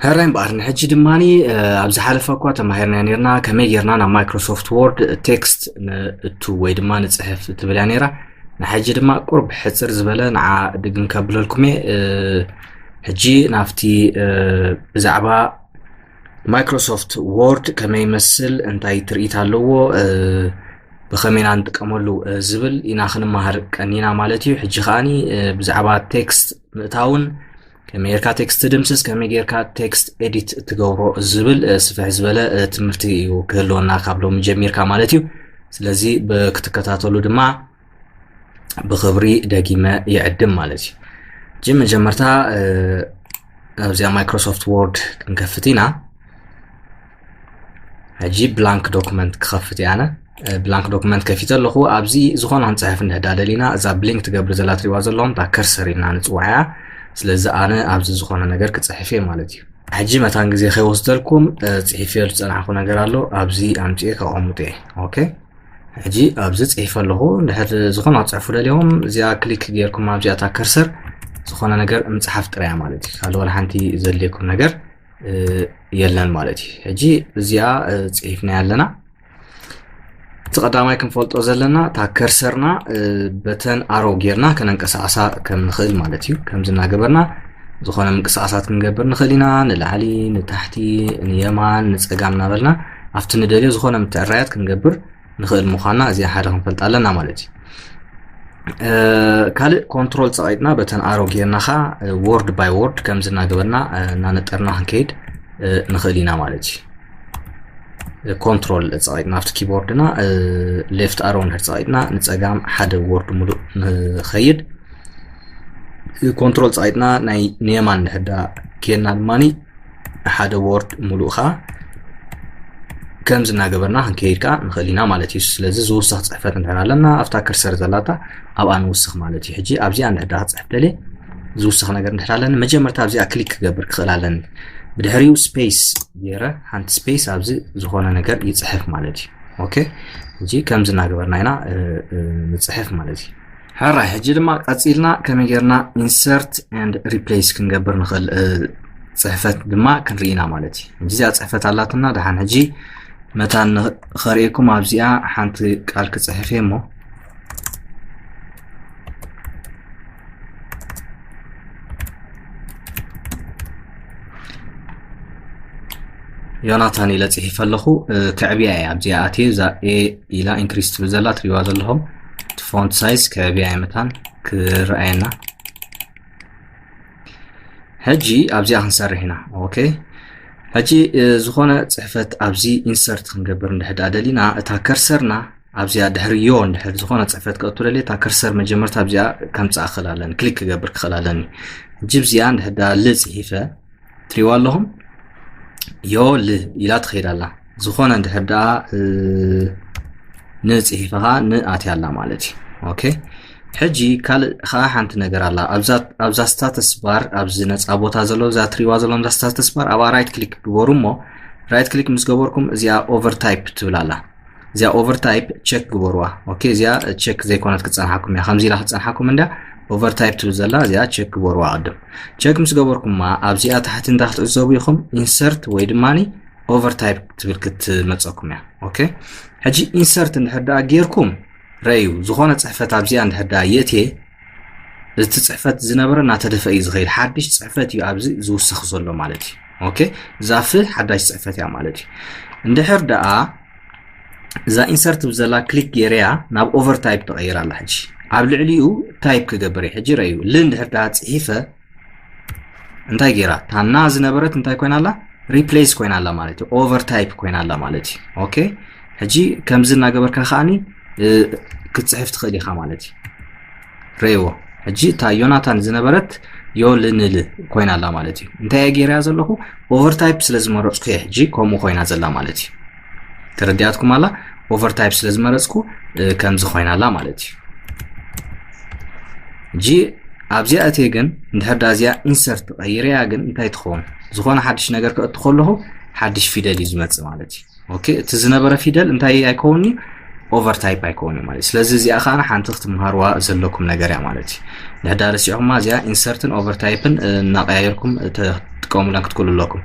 ሕራይ እምበኣር ንሕጂ ድማ ኣብ ዝሓለፈ እኳ ተማሂርና ነርና ከመይ ጌርና ናብ ማይክሮሶፍት ወርድ ቴክስት ንእቱ ወይ ድማ ንፅሕፍ ትብል እያ ነይራ ንሕጂ ድማ ቁርብ ሕፅር ዝበለ ንዓ ድግም ከብለልኩም እየ ሕጂ ናብቲ ብዛዕባ ማይክሮሶፍት ዎርድ ከመይ ይመስል እንታይ ትርኢት ኣለዎ ብኸመይ ኢና ንጥቀመሉ ዝብል ኢና ክንመሃር ቀኒና ማለት እዩ ሕጂ ከዓኒ ብዛዕባ ቴክስት ምእታውን ከመይ ጌርካ ቴክስት ትድምስስ ከመይ ጌርካ ቴክስት ኤዲት ትገብሮ ዝብል ስፍሕ ዝበለ ትምህርቲ እዩ ክህልወና ካብ ሎሚ ጀሚርካ ማለት እዩ ስለዚ ክትከታተሉ ድማ ብክብሪ ደጊመ ይዕድም ማለት እዩ እጂ መጀመርታ ኣብዚኣ ማይክሮሶፍት ወርድ ክንከፍት ኢና ሕጂ ብላንክ ዶክመንት ክኸፍት እየ ኣነ ብላንክ ዶክመንት ከፊተ ኣለኹ ኣብዚ ዝኾነ ክንፅሕፍ እንድሕዳ ደሊና እዛ ብሊንክ ትገብር ዘላ ትሪዋ ዘለኹም እታ ከርሰር ኢልና ንፅዋዕ እያ ስለዚ ኣነ ኣብዚ ዝኾነ ነገር ክፅሕፍ እየ ማለት እዩ ሕጂ መታን ግዜ ከይወስደልኩም ፅሒፈ ዝፀናሕኩ ነገር ኣሎ ኣብዚ ኣምፅኤ ከቐምጡ እየ ኦኬ ሕጂ ኣብዚ ጽሒፈ ኣለኹ ድሕሪ ዝኾነ ክጽሕፉ ደልዮም እዚኣ ክሊክ ጌርኩም ኣብዚኣ እታ ከርሰር ዝኾነ ነገር ምጽሓፍ ጥራያ ማለት እዩ ካልእ ዋላ ሓንቲ ዘድልየኩም ነገር የለን ማለት እዩ ሕጂ እዚኣ ጽሒፍና ኣለና እቲ ቀዳማይ ክንፈልጦ ዘለና እታ ከርሰርና በተን ኣሮ ጌርና ከነንቀሳቐሳ ከም ንኽእል ማለት እዩ ከምዚ እናገበርና ዝኾነ ምንቅስቓሳት ክንገብር ንኽእል ኢና ንላዕሊ ንታሕቲ ንየማን ንፀጋም እናበልና ኣብቲ ንደልዮ ዝኾነ ምትዕራያት ክንገብር ንኽእል ምዃንና እዚኣ ሓደ ክንፈልጥ ኣለና ማለት እዩ ካልእ ኮንትሮል ፀቂጥና በተን ኣሮ ጌርና ኸ ወርድ ባይ ወርድ ከምዚ እናገበርና እናነጠርና ክንከይድ ንኽእል ኢና ማለት እዩ ኮንትሮል ፀቂጥና ኣብቲ ኪቦርድና ሌፍት ኣሮ ንድሕር ፀቂጥና ንፀጋም ሓደ ወርድ ሙሉእ ንኸይድ ኮንትሮል ፀቂጥና ናይ ንየማን ንሕዳ ጌርና ድማ ንሓደ ወርድ ሙሉእ ከዓ ከምዚ እናገበርና ክንከይድ ከዓ ንኽእል ኢና ማለት እዩ ስለዚ ዝውስኽ ፅሕፈት እንድሕር ኣለና ኣብታ ከርሰር ዘላታ ኣብኣ ንውስኽ ማለት እዩ ሕጂ ኣብዚኣ እንድሕር ክፅሕፍ ደልየ ዝውስኽ ነገር እንድሕር ኣለኒ መጀመርታ ኣብዚኣ ክሊክ ክገብር ክኽእል ኣለኒ ብድሕሪኡ ስፔስ ገይረ ሓንቲ ስፔስ ኣብዚ ዝኾነ ነገር ይፅሕፍ ማለት እዩ ኦኬ እዚ ከምዚ እናገበርና ኢና ንፅሕፍ ማለት እዩ ሕራይ ሕጂ ድማ ቀፂልና ከመይ ጌርና ኢንሰርት ንድ ሪፕሌስ ክንገብር ንኽእል ፅሕፈት ድማ ክንርኢ ኢና ማለት እዩ ሕጂ እዚኣ ፅሕፈት ኣላትና ድሓን ሕጂ መታን ኸርእየኩም ኣብዚኣ ሓንቲ ቃል ክፅሕፍ እየ እሞ ዮናታን ኢለ ፅሒፈ ኣለኹ ከዕብያ እየ ኣብዚኣ ኣትየ እዛ ኤ ኢላ ኢንክሪስ ትብል ዘላ ትሪዋ ዘለኹም እቲ ፎንት ሳይዝ ከቢያይ መታን ክረኣየና ሕጂ ኣብዚኣ ክንሰርሕ ኢና ኦኬ ሕጂ ዝኾነ ፅሕፈት ኣብዚ ኢንሰርት ክንገብር እንድሕዳ ደሊና እታ ከርሰርና ኣብዚኣ ድሕሪ ዮ እንድሕር ዝኾነ ፅሕፈት ክእቱ ደልየ እታ ከርሰር መጀመርታ ኣብዚኣ ከምፅኣ ክኽእል ኣለኒ ክሊክ ክገብር ክኽእል ኣለኒ ሕጂ ብዚኣ እንድሕዳ ል ፅሒፈ ትሪዋ ኣለኹም ዮ ል ኢላ ትኸይድ ኣላ ዝኾነ እንድሕር ደኣ ንፅሒፈ ከዓ ንኣትያ ኣላ ማለት እዩ ኦኬ ሕጂ ካልእ ከዓ ሓንቲ ነገር ኣላ ኣብዛ ስታተስ ባር ኣብዚ ነፃ ቦታ ዘሎ እዛ ትሪዋ ዘለዎም እዛ ስታተስ ባር ኣብኣ ራይት ክሊክ ግበሩ እሞ ራይት ክሊክ ምስ ገበርኩም እዚኣ ኦቨር ታይፕ ትብል ኣላ እዚኣ ኦቨርታይፕ ቸክ ግበርዋ ኦኬ እዚኣ ቸክ ዘይኮነት ክፀንሓኩም እያ ከምዚ ኢላ ክፀንሓኩም እንዳ ኦቨርታይፕ ትብል ዘላ እዚኣ ቸክ ግበርዋ ቅድም ቸክ ምስ ገበርኩማ ኣብዚኣ ታሕቲ እንታይ ክትዕዘቡ ኢኹም ኢንሰርት ወይ ድማ ኦቨርታይፕ ትብል ክትመፀኩም እያ ኦኬ ሕጂ ኢንሰርት እንድሕር ደኣ ጌርኩም ረዩ ዝኾነ ፅሕፈት ኣብዚኣ እንድሕር ደኣ የእትየ እቲ ፅሕፈት ዝነበረ እናተደፈ እዩ ዝኸይድ ሓድሽ ፅሕፈት እዩ ኣብዚ ዝውሰኽ ዘሎ ማለት እዩ ኦኬ እዛ ፍ ሓዳሽ ፅሕፈት እያ ማለት እዩ እንድሕር ደኣ እዛ ኢንሰርት ብዘላ ክሊክ ገይረያ ናብ ኦቨር ታይፕ ተቐይራ ኣላ ሕጂ ኣብ ልዕሊኡ ታይፕ ክገብር እዩ ሕጂ ረዩ ል እንድሕር ደኣ ፅሒፈ እንታይ ጌራ ታና ዝነበረት እንታይ ኮይና ኣላ ሪፕሌስ ኮይና ኣላ ማለት እዩ ኦቨር ታይፕ ኮይና ኣላ ማለት እዩ ኦኬ ሕጂ ከምዚ እናገበርካ ከዓኒ ክትፅሕፍ ትኽእል ኢኻ ማለት እዩ ረይዎ ሕጂ እታ ዮናታን ዝነበረት ዮልንል ኮይና ኣላ ማለት እዩ እንታይ እየ ገይረያ ዘለኹ ኦቨርታይፕ ስለ ዝመረፅኩ እየ ሕጂ ከምኡ ኮይና ዘላ ማለት እዩ ተረዲኣትኩም ኣላ ኦቨርታይፕ ስለ ዝመረፅኩ ከምዚ ኮይና ኣላ ማለት እዩ ጂ ኣብዚኣ እትየ ግን እንድሕር ዳ እዚኣ ኢንሰርት ቀይረያ ግን እንታይ ትኸውን ዝኾነ ሓድሽ ነገር ክእቱ ከለኹ ሓድሽ ፊደል እዩ ዝመፅእ ማለት እዩ ኦኬ እቲ ዝነበረ ፊደል እንታይ ኣይከውን እዩ ኦቨርታይፕ ኣይከውን እዩ ማለት ስለዚ እዚኣ ከዓ ሓንቲ ክትምሃርዋ ዘለኩም ነገር እያ ማለት እዩ ድሕዳ ረሲዕኹማ እዚኣ ኢንሰርትን ኦቨርታይፕን እናቀያየርኩም ትጥቀሙለን ክትክእሉ ኣለኩም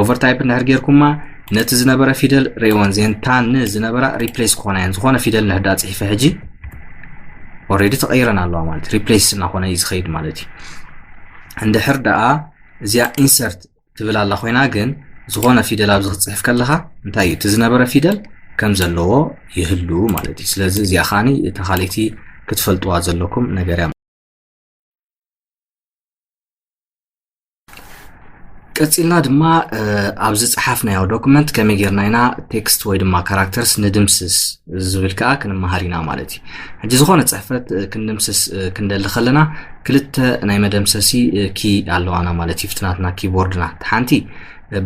ኦቨርታይፕ እንድሕር ጌርኩማ ነቲ ዝነበረ ፊደል ርእወን ዜን ታ ን ዝነበራ ሪፕሌስ ክኾና እየን ዝኾነ ፊደል ንሕዳ ፅሒፈ ሕጂ ኦልሬዲ ተቐይረን ኣለዋ ማለት ሪፕሌስ እናኾነ እዩ ዝኸይድ ማለት እዩ እንድሕር ደኣ እዚኣ ኢንሰርት ትብል ኣላ ኮይና ግን ዝኾነ ፊደል ኣብዚ ክትፅሕፍ ከለኻ እንታይ እዩ እቲ ዝነበረ ፊደል ከም ዘለዎ ይህሉ ማለት እዩ ስለዚ እዚኣ ኻኒ እታ ካልእቲ ክትፈልጥዋ ዘለኩም ነገር እያ ቀፂልና ድማ ኣብ ዝፀሓፍናዮ ዶክመንት ከመይ ጌርና ኢና ቴክስት ወይ ድማ ካራክተርስ ንድምስስ ዝብል ከዓ ክንመሃር ኢና ማለት እዩ ሕጂ ዝኾነ ፅሕፈት ክንድምስስ ክንደሊ ከለና ክልተ ናይ መደምሰሲ ኪ ኣለዋና ማለት እዩ ፍትናትና ኪቦርድና እቲ ሓንቲ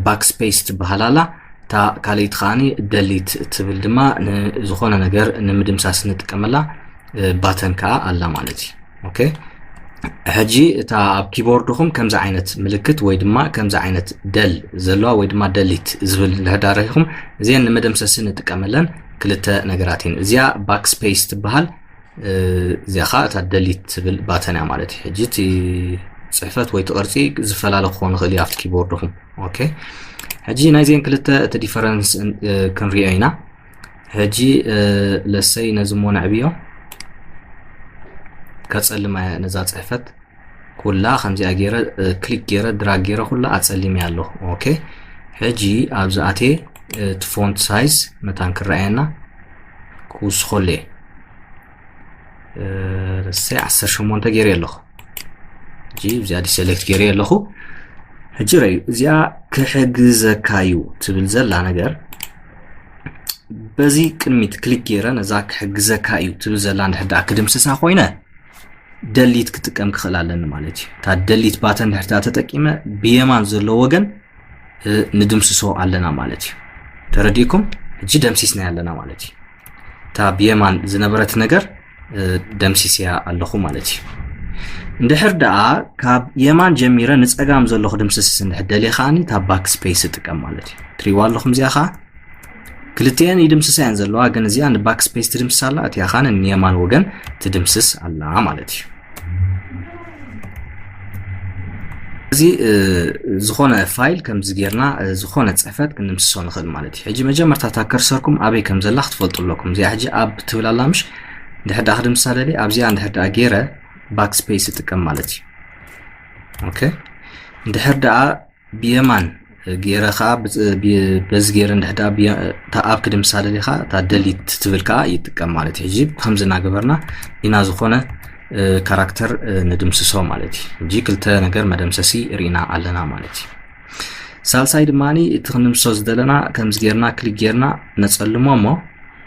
ባክስፔስ ትበሃል ኣላ እታ ካልእቲ ከዓኒ ደሊት ትብል ድማ ንዝኾነ ነገር ንምድምሳስ ንጥቀመላ ባተን ከዓ ኣላ ማለት እዩ ኦኬ ሕጂ እታ ኣብ ኪቦርድኹም ከምዚ ዓይነት ምልክት ወይ ድማ ከምዚ ዓይነት ደል ዘለዋ ወይ ድማ ደሊት ዝብል ንሕዳረኹም እዚአን ንመደምሰሲ ንጥቀመለን ክልተ ነገራት እየን እዚኣ ባክ ስፔስ ትበሃል እዚኣ ከዓ እታ ደሊት ትብል ባተን እያ ማለት እዩ ሕጂ እቲ ፅሕፈት ወይ ትቕርፂ ዝፈላለ ክኾን ይኽእል እዩ ኣብቲ ኪቦርድኹም ኦኬ ሕጂ ናይዚአን ክልተ እቲ ዲፈረንስ ክንሪኦ ኢና ሕጂ ለሰይ ነዚ እሞ ነዕብዮ ከጸልማያ ነዛ ጽሕፈት ኩላ ከምዚኣ ገይረ ክሊክ ገይረ ድራግ ገይረ ኩላ ኣጸሊመያ ኣለኹ ኦኬ ሕጂ ኣብዚ ኣትየ እቲ ፎንት ሳይዝ መታን ክረኣየና ክውስኸሉ እየ እሰይ ዓሰርተ ሸሞንተ ገይረ ኣለኹ ሕጂ እዚኣ ዲሰሌክት ገይረ ኣለኹ ሕጂ ረዩ እዚኣ ክሕግዘካ እዩ ትብል ዘላ ነገር በዚ ቅድሚት ክሊክ ገይረ ነዛ ክሕግዘካ እዩ ትብል ዘላ ንድሕዳ ክድምስሳ ኮይነ ደሊት ክጥቀም ክኽእል ኣለኒ ማለት እዩ እታ ደሊት ባተን ድሕርታ ተጠቂመ ብየማን ዘሎ ወገን ንድምስሶ ኣለና ማለት እዩ ተረዲእኩም ሕጂ ደምሲስና ኣለና ማለት እዩ እታ ብየማን ዝነበረት ነገር ደምሲስያ ኣለኹ ማለት እዩ እንድሕር ደኣ ካብ የማን ጀሚረ ንፀጋም ዘሎ ክድምስስ እንድሕር ደልየ ከዓኒ እታ ባክ ስፔስ እጥቀም ማለት እዩ ትሪዋ ኣለኹም እዚኣ ከዓ ክልቲኤን ይድምስሳ እየን ዘለዋ ግን እዚኣ ንባክ ስፔስ ትድምስስ ኣላ እቲኣ ከዓ ንየማን ወገን ትድምስስ ኣላ ማለት እዩ እዚ ዝኾነ ፋይል ከምዚ ጌርና ዝኾነ ፅሕፈት ክንምስሶ ንኽእል ማለት እዩ ሕጂ መጀመርታ እታ ከርሰርኩም ኣበይ ከም ዘላ ክትፈልጡ ኣለኩም እዚኣ ሕጂ ኣብ ትብል ኣላ ምሽ ድሕር ዳኣ ክድምሳ ደሊ ኣብዚኣ እንድሕር ዳኣ ጌረ ባክ ስፔስ ይጥቀም ማለት እዩ ኦኬ እንድሕር ዳኣ ብየማን ገይረ ከዓ በዚ ገይረ እንድሕዳ ኣብ ክዲ ምሳለ ዲኻ እታ ደሊት ትብል ከዓ ይጥቀም ማለት እዩ ሕጂ ከምዚ እናገበርና ኢና ዝኾነ ካራክተር ንድምስሶ ማለት እዩ ሕጂ ክልተ ነገር መደምሰሲ ርኢና ኣለና ማለት እዩ ሳልሳይ ድማ እቲ ክንምሶ ዝደለና ከምዚ ገይርና ክሊክ ገይርና ነፀልሞ እሞ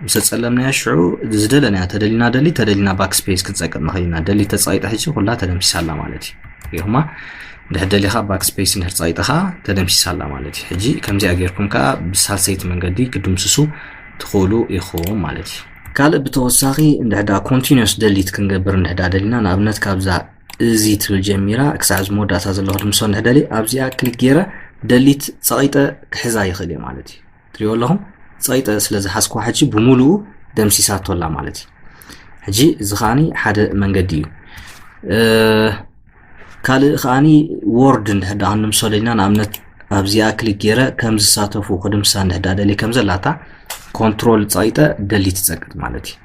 ምስ ኣጸለምናያ ሽዑ ዝደለናያ ተደሊና ደሊ ተደሊና ባክ ስፔስ ክንጸቅጥ ንኽእል ኢና ደሊ ተጻይጠ ሕጂ ኩላ ተደምሲሳ ኣላ ማለት እዩ ይኹማ ድሕር ደሊኻ ባክ ስፔስ እንድሕር ጻይጥኻ ተደምሲሳ ኣላ ማለት እዩ ሕጂ ከምዚኣ ጌርኩም ከኣ ብሳልሰይቲ መንገዲ ክድምስሱ ትኽእሉ ኢኹም ማለት እዩ ካልእ ብተወሳኺ እንድሕዳ ኮንቲኒስ ደሊት ክንገብር እንድሕዳ ደሊና ንኣብነት ካብዛ እዚ ትብል ጀሚራ ክሳዕ እዚ መወዳእታ ዘሎ ክድምሶ እንድሕደሊ ኣብዚኣ ክሊክ ገይረ ደሊት ጸቂጠ ክሕዛ ይኽእል እየ ማለት እዩ ትሪኦ ኣለኹም ፀይጠ ስለ ዝሓዝኩዋ ሕጂ ብምሉኡ ደምሲሳቶ ኣላ ማለት እዩ ሕጂ እዚ ከዓኒ ሓደ መንገዲ እዩ ካልእ ከዓኒ ወርድ እንድሕር ዳ ክንምሰሎ ኢና ንኣብነት ኣብዚኣ ክሊክ ገይረ ከም ዝሳተፉ ክድምሳ እንድሕር ዳ ደልየ ከም ዘላታ ኮንትሮል ፀይጠ ደሊት ይፀቅጥ ማለት እዩ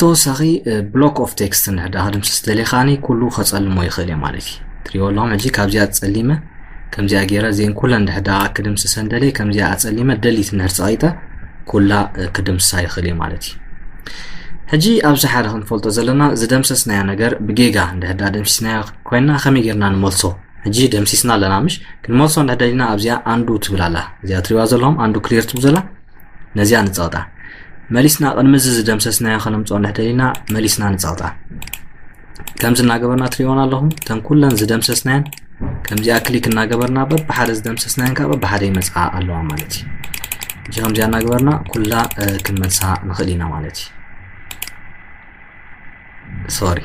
ተወሳኺ ብሎክ ኦፍ ቴክስት ንሕዳ ክድምስስ ደሊኻኒ ኩሉ ከፀልሞ ይኽእል እየ ማለት እዩ ትሪኦ ኣለኹም ሕጂ ካብዚኣ ፀሊመ ከምዚኣ ገይረ እዚአን ኩለን ድሕዳ ክድምስሰን ደልየ ከምዚኣ ኣፀሊመ ደሊት ንድሕር ፀቂጠ ኩላ ክድምሳ ይኽእል እየ ማለት እዩ ሕጂ ኣብዚ ሓደ ክንፈልጦ ዘለና ዝደምሰስናዮ ነገር ብጌጋ እንድሕዳ ደምሲስናዮ ኮይና ከመይ ጌርና ንመልሶ ሕጂ ደምሲስና ኣለና ምሽ ክንመልሶ እንድሕደሊና ኣብዚኣ ኣንዱ ትብል ኣላ እዚኣ ትሪዋ ዘለኹም ኣንዱ ክሊር ትብል ዘላ ነዚኣ ንጸቕጣ መሊስና ቅድሚ እዚ ዝደምሰስናዮ ከነምፅኦ እንድሕደሊና መሊስና ንጸቕጣ ከምዚ እናገበርና ትሪእዎን ኣለኹም እተን ኩለን ዝደምሰስናየን ከምዚኣ ክሊክ እናገበርና በብሓደ ዝደምሰስናየን ከዓ በብሓደ ይመፅኣ ኣለዋ ማለት እዩ እዚ ከምዚኣ እናገበርና ኩላ ክንመልሳ ንኽእል ኢና ማለት እዩ ሶሪ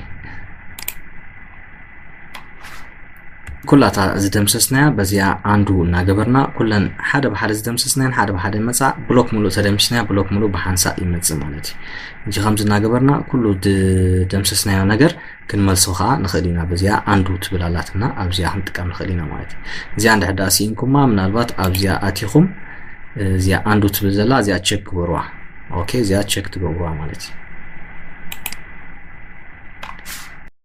ኩላታ ዝደምሰስናያ በዚኣ ኣንዱ እናገበርና ኩለን ሓደ ብሓደ ዝደምሰስናያን ሓደ ብሓደ መፃ ብሎክ ሙሉእ ተደምስናያ ብሎክ ሙሉእ ብሓንሳእ ይመፅእ ማለት እዩ እጂ ከምዚ እናገበርና ኩሉ ዝደምሰስናዮ ነገር ክንመልሶ ከዓ ንኽእል ኢና በዚኣ ኣንዱ ትብል ኣላትና ኣብዚኣ ክንጥቀም ንኽእል ኢና ማለት እዩ እዚኣ እንድሕዳ ስኢንኩማ ምናልባት ኣብዚኣ ኣቲኹም እዚኣ ኣንዱ ትብል ዘላ እዚኣ ቸክ ግበርዋ ኦኬ እዚኣ ቸክ ትገብሩዋ ማለት እዩ